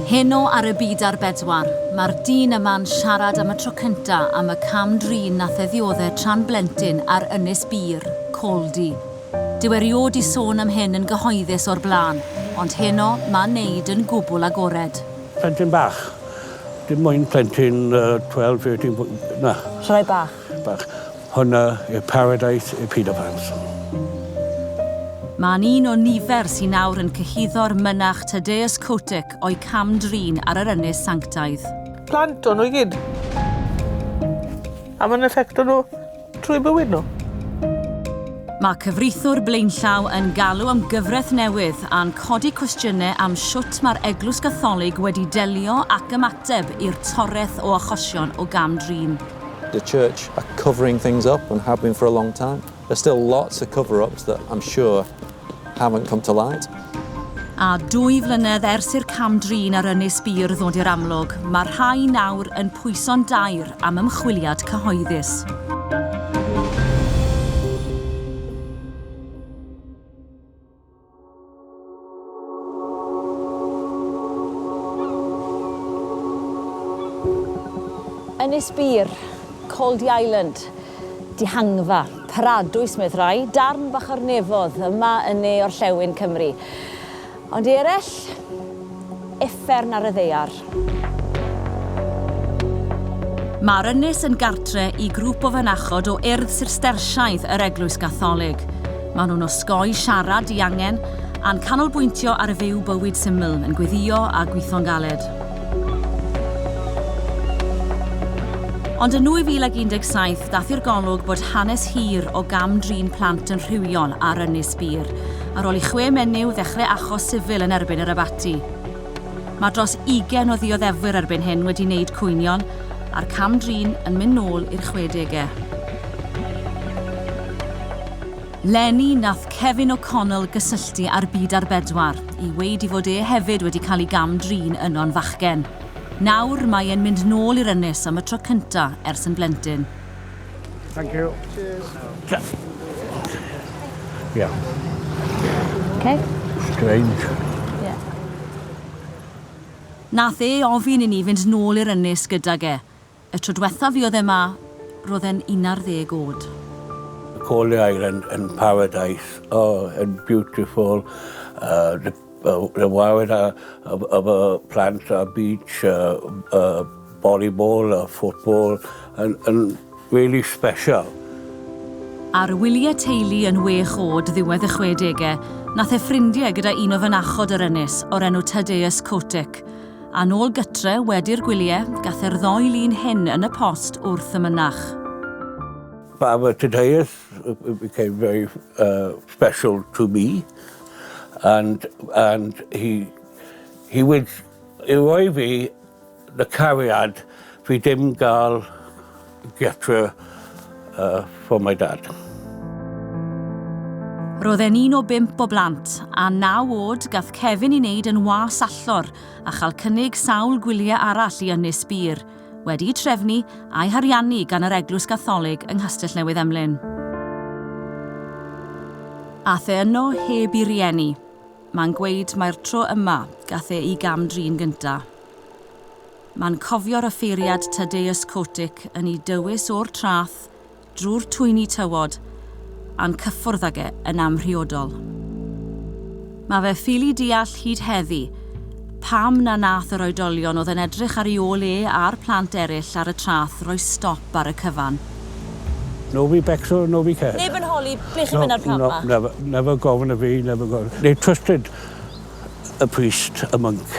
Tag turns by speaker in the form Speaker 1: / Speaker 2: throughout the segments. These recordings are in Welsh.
Speaker 1: Heno ar y byd ar bedwar, mae'r dyn yma'n siarad am y tro cynta am y cam drin nath e ddiodde tra'n blentyn ar Ynys Bur, Caldy. Dyw e riod di sôn am hyn yn gyhoeddus o'r bla'n, ond heno ma'n neud yn gwbwl agored. Plentyn bach,
Speaker 2: dim moyn plentyn yy twelve, thirteen, na. Llai bach.
Speaker 3: Bach.
Speaker 2: Hwnna yw paradise i paedofans.
Speaker 1: Mae'n un o nifer sy'n awr yn cyhuddo'r mynach Tadeus Kotick o'i cam-drin ar yr ynys sanctaidd. Plant o'n nhw i
Speaker 4: gyd. A mae'n effectio nhw trwy bywyd nhw.
Speaker 1: Mae cyfreithwr blaenllaw yn galw am gyfraith newydd a'n codi cwestiynau am shwt mae'r Eglwys Gatholig wedi delio ac ymateb i'r toreth o achosion o gam-drin. the church
Speaker 5: are covering things up and have been for a long time. There's still lots of cover-ups that I'm sure haven't come to light. A
Speaker 1: dwy flynedd ers i'r cam drin ar Ynys Bir ddod i'r amlwg, mae rhai nawr yn pwyso'n daer am ymchwiliad cyhoeddus.
Speaker 3: Ynys Bîr, Coldy Island, dihangfa, paradwys medd rhai, darn fach o'r nefodd, yma yn ne orllewin Cymru. Ond i eraill? uffern ar y ddaear.
Speaker 1: Mae'r ynys yn gartre i grwp o fynachod o Urdd Sistersiaidd yr Eglwys Gatholig. Maen nhw'n osgoi siarad diangen a'n canolbwyntio ar fyw bywyd syml, yn gweddïo a gweithio'n galed. Ond yn 2017, daeth i'r golwg bod hanes hir o gam-drin plant yn rhywiol ar Ynys Bir, ar ôl i chwe menyw ddechrau achos sifil yn erbyn yr abaty. ati. Mae dros ugain o ddioddefwyr erbyn hyn wedi wneud cwynion, a'r cam-drin yn mynd nôl i'r chwedegau. Leni nath Kevin O'Connell gysylltu â'r Byd ar Bedwar i weud i fod e hefyd wedi cael ei gam-drin yno'n fachgen. Nawr mae e'n mynd nôl i'r ynys am y tro cynta' ers yn blentyn.
Speaker 2: Thank you.
Speaker 3: Cheers. Yeah. Okay. Strange. Yeah.
Speaker 1: Nath e ofyn i ni fynd nôl i'r ynys gydag e. Y tro diwetha fi oedd e ma, roedd e'n 11 oed. Coleau
Speaker 2: Island yn paradise. Oh, and beautiful. Uh, the Wel rwy'n waed â â fy â fy plant a beach a a volleyball a football yn yn rili sbesial.
Speaker 1: Ar wyliau teulu yn wech oed ddiwedd y chwedegau, nath e ffrindie gyda un o fynachod yr ynys o'r enw Tadeusz Kotyk. A nôl gytre wedi'r gwyliau, gath e'r ddou lun hyn yn y post wrth y mynach. Father
Speaker 2: Tadeusz, It became very uh, special to me and and he he would i roi fi y cariad fi dim gael getre uh, for my dad.
Speaker 1: Roedd e'n un o bimp o blant, a naw oed gath Kevin i wneud yn was allor a chael cynnig sawl gwyliau arall i ynys bir. wedi'u trefnu a'u hariannu gan yr Eglwys Gatholig yng Nghastell Newydd Emlyn. Ath e yno heb i rieni. Mae'n gweud mai'r tro yma gath e i gam-drin gynta. Mae'n cofio'r offeiriad Tadeusz Kotyk yn i dywys o'r trath drwy'r twyni tywod a'n cyffwrdd ag e yn amhriodol. Mae fe ffili deall hyd heddi pam na nath yr oedolion oedd yn edrych ar ei ôl e a'r plant eraill ar y trath roi stop ar y cyfan.
Speaker 2: Nobody backs or nobody cares. Neb yn holi ble
Speaker 3: chi'n mynd a'r plant 'ma. No, no, never, never
Speaker 2: gofyn i fi, never gofyn. They trusted a priest, a monk.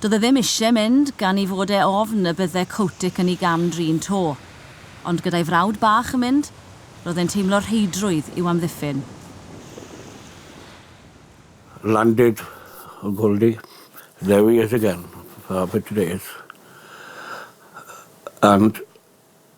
Speaker 1: Do'dd e ddim isie mynd, gan 'i fod e ofn y bydde Kotick yn 'i gam-drin 'to. Ond gyda'i frawd bach yn mynd, ro'dd e'n teimlo rheidrwydd i'w amddiffyn.
Speaker 2: Landed on Goldie, there he is again for half a dreth and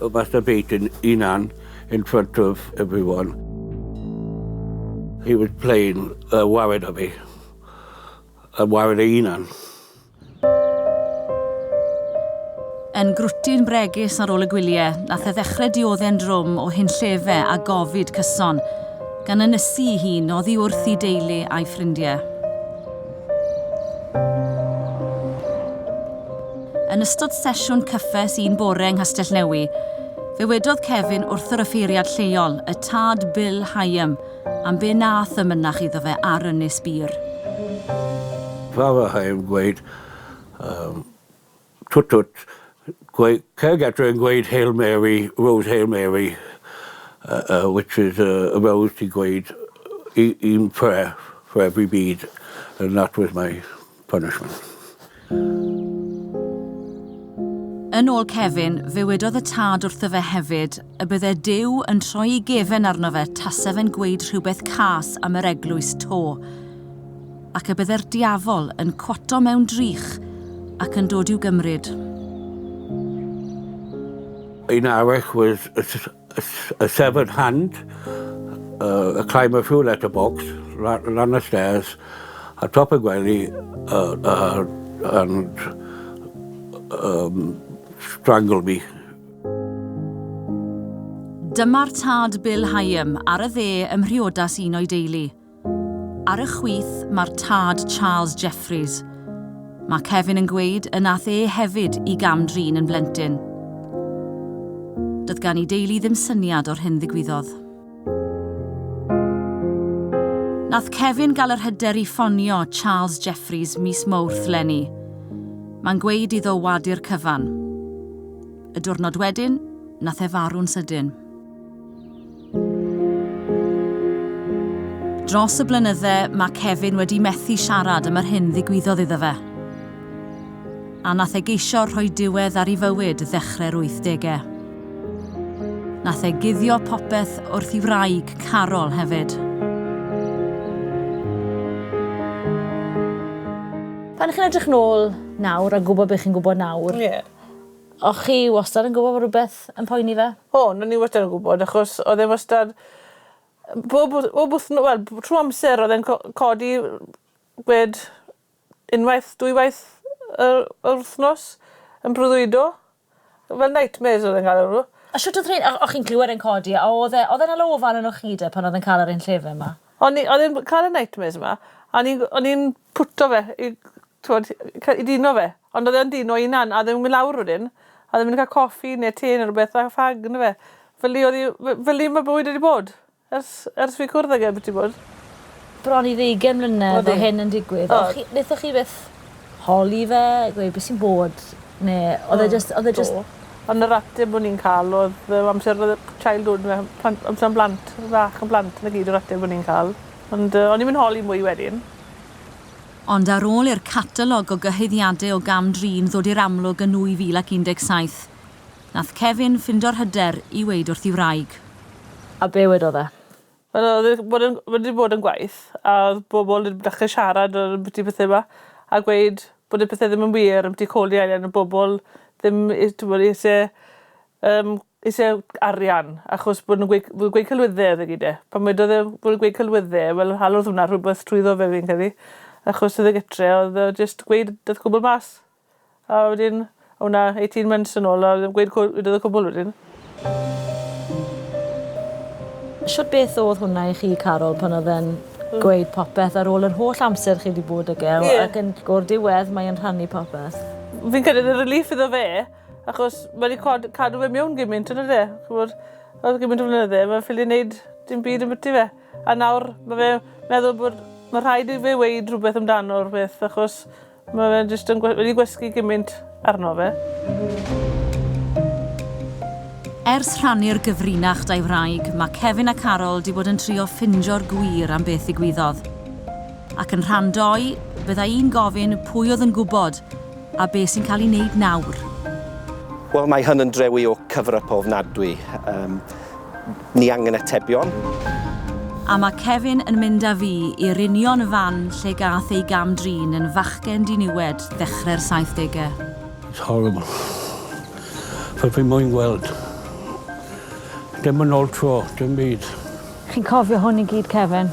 Speaker 2: O Buster Payton 'i 'nan in front of everyone. He was playing a waed o fi. A waed ei 'unan.
Speaker 1: Yn grwtyn bregus ar ôl y gwylie, nath e ddechre diodde'n drwm o hunllefe a gofid cyson, gan ynysu 'i hun oddi wrth 'i deulu a'i ffrindie. Yn ystod sesiwn cyffes un bore yng Nghastell-newy, fe wedodd Kevin wrth yr offeiriad lleol, y tad Bill Hyam, am be nath y mynach iddo fe ar Ynys Bur.
Speaker 2: Father Hyam gweud, Yym, Twt twt. Gwe- Cerdd adre yn gweud Hail Mary, Rose Hail Mary, uh, uh, which is a, a rose sy'n gweud i, i'n prayer for every bead, and that was my punishment.
Speaker 1: Yn ôl Kevin, fe wedodd y tad wrtho fe hefyd y bydde Dyw yn troi ei gefen arno fe tase fe'n gweud rhywbeth cas am yr eglwys to. ac y bydde'r diafol yn cwato mewn drych ac yn dod i'w gymryd.
Speaker 2: Yn arall was a, a, a severed hand, uh, a climb a few letter box, ran, ran the stairs, a top y gwely, uh, uh, and um, strangle me.
Speaker 1: Dyma'r tad Bill Hyam ar y dde ym mhriodas un o'i deulu. Ar y chwith mae'r tad Charles Jeffreys. Mae Kevin yn gweud y nath e hefyd i gam-drin yn blentyn. Doedd gan i deulu ddim syniad o'r hyn ddigwyddodd. Nath Kevin gael yr hyder i ffonio Charles Jeffreys mis Mowrth leni. Mae'n gweud iddo wadu'r cyfan. Y diwrnod wedyn, nath e farw'n sydyn. Dros y blynydde, mae Kevin wedi methu siarad am yr hyn ddigwyddodd iddo fe. A nath e geisio rhoi diwedd ar ei fywyd ddechrau'r wythdegau. Nath e guddio popeth wrth ei wraig, Carol, hefyd.
Speaker 3: Pan chi'n edrych nôl nawr a gwybod be chi'n gwybod nawr... Ie. O chi wastad yn gwybod bod rhywbeth yn poeni fe? O, o'n i wastad yn
Speaker 4: gwybod achos oedd e wastad bob wth- bob wythno- wel b- trwy amser oedd e'n co- codi gwed unwaith, dwywaith y- yr wythnos yn brwyddo. Fel nightmares oedd e'n cael arno fo. A shwt oedd rhein? O- o'ch
Speaker 3: chi'n clywed e'n codi a oedd e oedd e'n hala ofal arnoch chi de pan oedd e'n cael yr un llefen ma? O'n i oedd e'n b- cael
Speaker 4: y nightmares ma a o'n i'n o'n i'n pwtio fe i t'wod i c- i dino fe. Ond oedd e'n dyn o hunan a ddim yn mynd lawr wedyn a ddim yn cael coffi neu te neu rhywbeth a ffag yndyfe? Felly oedd 'i... felly mae bywyd wedi bod ers ers fi cwrdd ag e byth 'di bod. Bron i
Speaker 3: ddeugain mlynedd o hyn yn digwydd. O'ch chi... Nethoch chi byth holi fe, gweud beth sy'n bod neu oedd e jyst oedd e jyst... Do. Ond yr ateb
Speaker 4: o'n i'n ca'l oedd yym amser oedd y childhood fe plant amser yn blant fach yn blant 'na gyd yr ateb o'n i'n ca'l. Ond yy o'n i'm yn holi mwy wedyn.
Speaker 1: Ond ar ôl i'r catalog o gyhoeddiade o gam-drin ddod i'r amlwg yn 2017, nath Kevin ffindo'r hyder i weud wrth 'i wraig. A be'
Speaker 3: wedodd e? Wel o'dd e bod
Speaker 4: yn wedi bod yn gwaith a o'dd bobol ddim dechre siarad yy ambyti pethe 'ma a gweud bod y pethe ddim yn wir ambyti codi arian a bobol ddim i t'mod isie Yym, isie arian, achos bod nw'n gweu- w- gweud celwydde o'dd e gyd e. Pan wedodd e bod e'n gweud celwydde, wel halodd hwnna rhwbeth trwyddo fe fi'n credu, achos o'dd e gytre o'dd o jyst gweud dath y cwbwl mas. A wedyn o' 'na eighteen months yn ôl a o'dd e'n gweud cw- wedodd y cwbwl wedyn.
Speaker 3: Shwt beth o'dd hwnna i chi Carol pan o'dd e'n gweud popeth ar ôl yr holl amser chi 'di bod ag e o- Ie. ac yn o'r diwedd mae e'n rhannu popeth? Fi'n credu o'dd e'n
Speaker 4: relief iddo fe Achos mae wedi cod- cadw fe mewn gymaint yn yde? Ch'mod, ar ol gymaint o flynydde mae'n ffili neud dim byd ambyty fe. A nawr mae fe meddwl bod mae rhaid i fe weud rhywbeth amdano'r peth achos mae fe jyst yn gwe- wedi gwesgu gymaint arno fe.
Speaker 1: Ers rhannu'r gyfrinach 'da'i wraig, mae Kevin a Carol 'di bod yn trio ffindio'r gwir am beth ddigwyddodd. Ac yn rhan doi, bydda i'n gofyn pwy oedd yn gwybod a be sy'n cael ei wneud nawr? Wel,
Speaker 6: mae hyn yn drewi o cover-up ofnadwy. Um, ni angen atebion. A
Speaker 1: mae Kevin yn mynd â fi i'r union fan lle gath ei gam-drin yn fachgen diniwed ddechrau'r 70au. It's
Speaker 2: horrible. Fel fi moyn gweld. Dim yn ôl tro, dim byd. Chi'n cofio
Speaker 3: hwn i gyd, Kevin?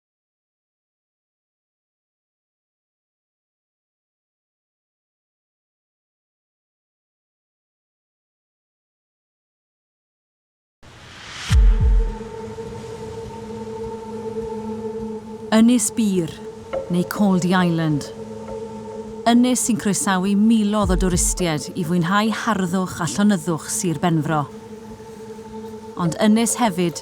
Speaker 1: Ynys Bur, neu Cauldy Island. Ynys sy'n croesawu milodd o dwristiaid i fwynhau harddwch a llonyddwch Sir Benfro. Ond ynys hefyd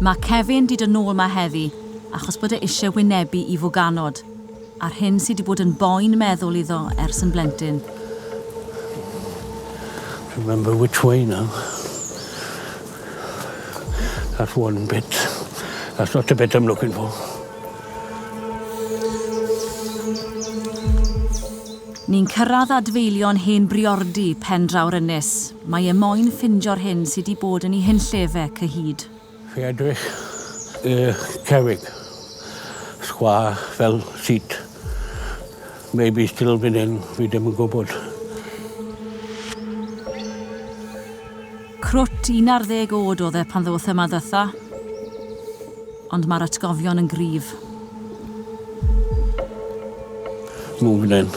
Speaker 2: Mae
Speaker 1: Kevin 'di dod nôl 'ma heddi achos bod e isie wynebu Ivo Ganod, a'r hyn sy 'di bod yn boen meddwl iddo ers yn blentyn.
Speaker 2: Remember which way now. That's one bit. That's not the bit I'm looking for.
Speaker 1: Ni'n cyrraedd adfeilion hen briordy Pen Draw'r Ynys. Mae e moyn ffindio'r hyn sy 'di bod yn 'i hunllefe, cyhyd. Fe edrych
Speaker 2: i'ch cerrig sgwâr fel seat. Maybe still fyn 'yn, fi dim yn gwybod.
Speaker 1: Crwt un ar ddeg oed oedd e pan ddoth yma ddytha. Ond mae'r atgofion yn gryf.
Speaker 2: Move fyn 'yn.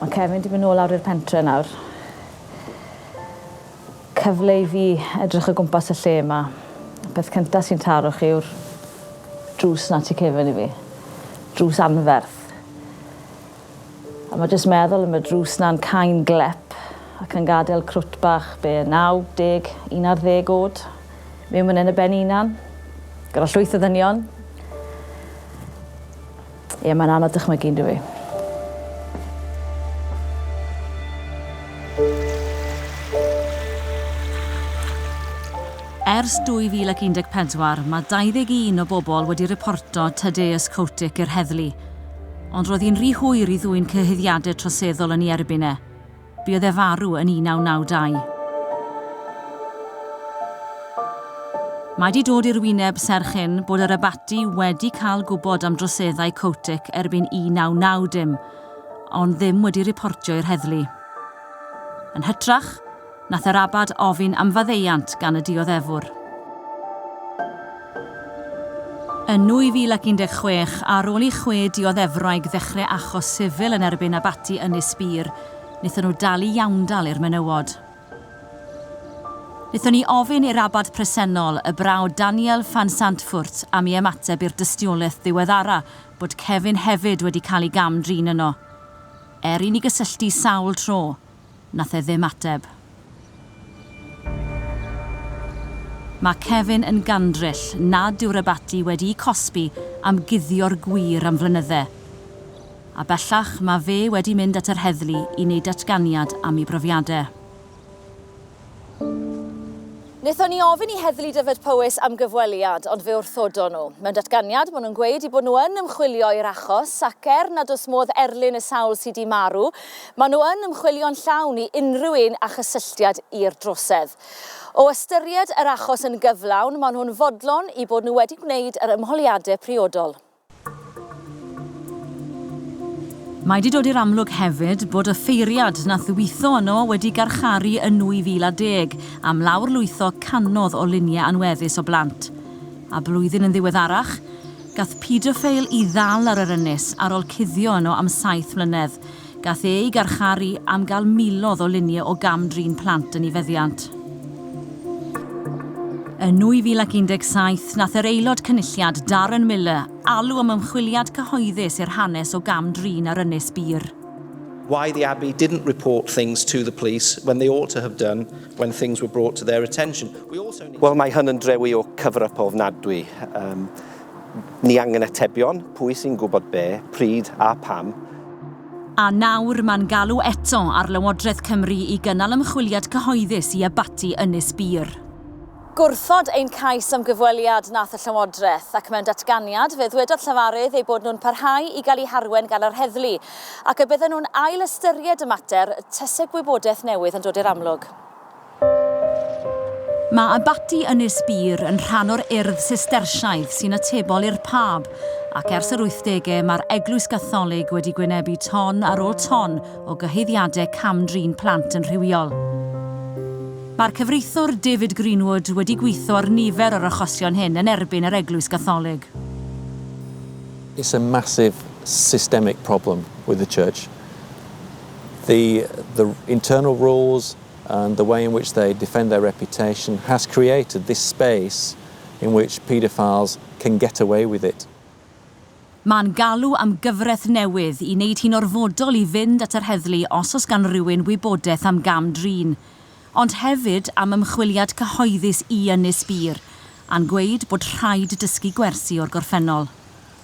Speaker 3: Mae Kevin di mynd nôl lawr i'r pentre nawr. Cyfle i fi edrych o gwmpas y lle yma. Peth cyntaf sy'n taro chi yw'r drws 'na ti Kevin i fi. Drws anferth. A ma jyst meddwl am y drws na'n cain glep ac yn gadel crwt bach be, naw deg, un ar ddeg o'd miwn myn 'yn y ben 'i 'unan, gyda llwyth o ddynion. Ie, mae'n anodd dychmygu yndyw 'i?
Speaker 1: Ers 2014, mae 21 o bobl wedi riporto Tadeusz Koutyk i'r heddlu. Ond roedd hi'n rhy hwyr i ddwyn cyhuddiadau troseddol yn ei erbyn e. Buodd e farw yn 1992. Mae 'di dod i'r wyneb serch hyn bod yr Abaty wedi cael gwybod am droseddau Kotick erbyn 1990, ond ddim wedi riportio i'r heddlu. Yn hytrach, Nath yr abad ofyn am faddeuant gan y dioddefwr. Yn 2016, ar ôl i chwe dioddefwraig ddechrau achos sifil yn erbyn abaty Ynys Bur, wnaethon nhw dalu iawndal i'r menywod. Wnaethon ni ofyn i'r abad presennol, y brawd Daniel Van Zandvoort, am i ymateb i'r dystiolaeth ddiweddara bod Kevin hefyd wedi cael ei gam-drin yno. Er i ni gysylltu sawl tro, Nath e ddim ateb. Mae Kevin yn gandryll nad yw'r abaty wedi'u cosbi am guddio'r gwir am flynydde. A bellach mae fe wedi mynd at yr heddlu i wneud datganiad am ei brofiadau.
Speaker 3: Wnaethon ni ofyn i Heddlu Dyfed-Powys am gyfweliad, ond fe wrthodon nhw. Mewn datganiad, maen nhw'n gweud eu bod nhw yn ymchwilio i'r achos, ac er nad oes modd erlyn y sawl sy' 'di marw, maen nhw yn ymchwilio'n llawn i unrhyw un â chysylltiad i'r drosedd. O ystyried yr achos yn gyflawn, maen nhw'n fodlon eu bod nhw wedi gwneud yr ymholiadau priodol.
Speaker 1: Mae 'di dod i'r amlwg hefyd bod y ffeiriad nath ddwytho yno wedi garcharu yn 2010 am lawr lwytho canodd o lunie anweddus o blant. A blwyddyn yn ddiweddarach, gath paedoffeil 'i ddal ar yr ynys ar ol cuddio yno am saith mlynedd. Gall ei garcharu am gael miloedd o luniau o gam-drin plant yn ei feddiant. Yn 2017, nath yr Aelod Cynulliad, Darren Millar, alw am ymchwiliad cyhoeddus i'r hanes o gam-drin ar Ynys Bur. Why the
Speaker 6: Abbey didn't report things to the police when they ought to have done when things were brought to their attention. We also need. Wel, mae hyn yn drewi o cyfryp ofnadwy. Yym. Ni angen atebion, pwy sy'n gwybod be, pryd a pam? A
Speaker 1: nawr mae'n galw eto ar Lywodraeth Cymru i gynnal ymchwiliad cyhoeddus i abaty Ynys Bur.
Speaker 3: Gwrthod ein cais am gyfweliad nath y Llywodraeth, ac mewn datganiad fe ddwedodd llefarydd eu bod nhw'n parhau i gael eu harwain gan yr heddlu, ac y bydden nhw'n ail ystyried y mater tase gwybodaeth newydd yn dod i'r amlwg.
Speaker 1: Mae Abaty Ynys Bur yn rhan o'r Urdd Sistersiaidd sy'n atebol i'r Pab, ac ers yr wythdegau mae'r Eglwys Gatholig wedi gwynebu ton ar ôl ton o gyhoeddiadau cam-drin plant yn rhywiol. Mae'r cyfreithiwr David Greenwood wedi gweithio ar nifer o'r achosion hyn yn erbyn yr Eglwys Gatholig.
Speaker 5: It's a massive systemic problem with the Church. The, the internal rules, and the way in which they defend their reputation has created this space in which paedophiles can get away with it. Mae'n
Speaker 1: galw am gyfraith newydd i wneud hi'n orfodol i fynd at yr heddlu os oes gan rywun wybodaeth am gam-drin, ond hefyd am ymchwiliad cyhoeddus i Ynys Bur, a'n gweud bod rhaid dysgu gwersi o'r gorffennol.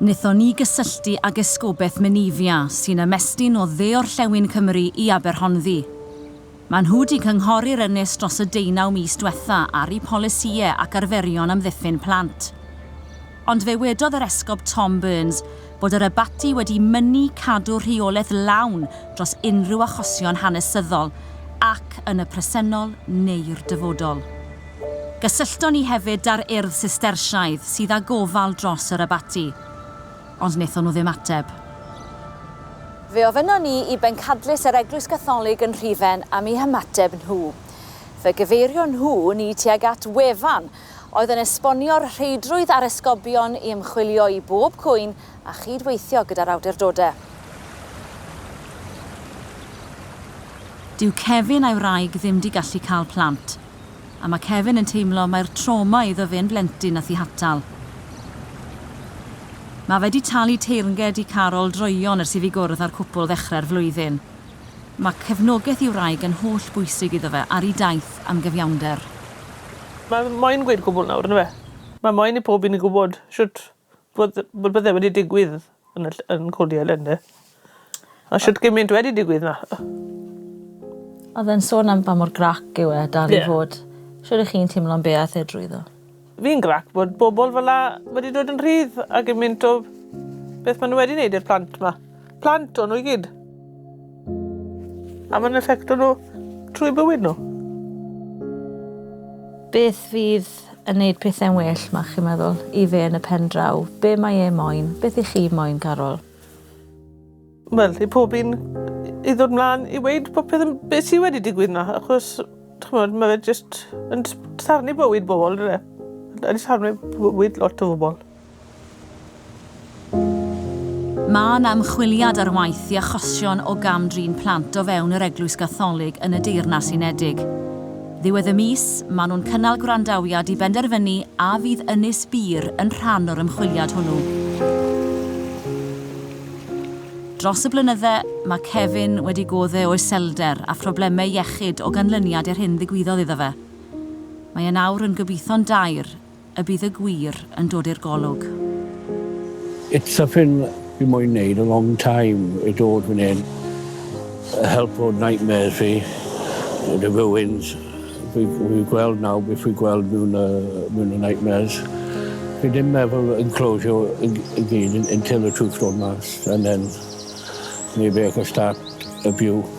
Speaker 1: Wnaethon ni gysylltu ag Esgobaeth Menevia sy'n ymestyn o Dde-orllewin Cymru i Aberhonddu. Maen nhw 'di cynghori'r ynys dros y deunaw mis dwetha ar eu polisïau ac arferion amddiffyn plant. Ond fe wedodd yr Esgob Tom Burns bod yr Abaty wedi mynnu cadw rheolaeth lawn dros unrhyw achosion hanesyddol ac yn y presennol neu'r dyfodol. Gysyllton ni hefyd da'r Urdd Sistersiaidd sydd â gofal dros yr Abaty, ond wnaethon nhw ddim ateb.
Speaker 3: Fe ofynnon ni i Bencadlys yr Eglwys Gatholig yn Rhufen am i hymateb nhw. Fe gyfeirio nhw ni tuag at wefan oedd yn esbonio'r rheidrwydd a'r esgobion i ymchwilio i bob cwyn a chyd-weithio gyda'r awdurdode.
Speaker 1: Dyw Kevin a'i wraig ddim di gallu cael plant. a mae Kevin yn teimlo mai'r trawma iddo fe'n blentyn a thihatal. Mae fe 'di talu teyrnged i Carol droeon ers i fi gwrdd â'r cwpl ddechrau'r flwyddyn. Mae cefnogaeth ei wraig yn holl bwysig iddo fe ar ei daith am gyfiawnder. Mae
Speaker 4: moyn gweud cwbl nawr, yndyfe? Mae moyn i pob un gwybod shwt Bod bod bod e wedi digwydd yn y ll- yn Coney Island 'de? A shwt gymint wedi digwydd 'na.
Speaker 3: Odd e'n sôn am pa mor grac yw e dal i fod. Shwd y'ch chi'n timlo am be' ath e drwyddo? Fi'n grac bod
Speaker 4: bobol fel 'a wedi dod yn rhydd a gymint o beth ma' n'w wedi neud i'r plant 'ma. plant o nhw i gyd. A mae'n effecto nhw trwy bywyd nhw.
Speaker 3: Beth fydd yn neud pethau'n well, mae chi'n meddwl, i fe yn y pen draw? Be mae e moyn? Beth i chi moyn, Carol?
Speaker 4: Wel, i pob un i ddod mlaen i weid popeth yn beth sydd wedi digwydd na, achos chymod, mae fe jyst yn sarnu bywyd bobl, dwi e? Yn sarnu bywyd lot o bobl.
Speaker 1: Mae yna ymchwiliad ar waith i achosion o gam-drin plant o fewn yr Eglwys Gatholig yn y Deyrnas Unedig. Ddiwedd y mis, maen nhw'n cynnal gwrandawiad i benderfynu a fydd Ynys Bur yn rhan o'r ymchwiliad hwnnw. Dros y blynydde, mae Kevin wedi gode o iselder a phroblemau iechyd o ganlyniad i'r hyn ddigwyddodd iddo fe. Mae e nawr yn gobeitho'n dair y bydd y gwir yn dod i'r golwg.
Speaker 2: It's something fi moyn neud a long time i dod fan hyn a helpo nightmares fi yn y ruins fi fi gweld nawr beth fi gweld mewn y mewn y nightmares fi ddim meddwl yn closio y g- y gyd yn until the truth dod mas and then maybe I can start a view.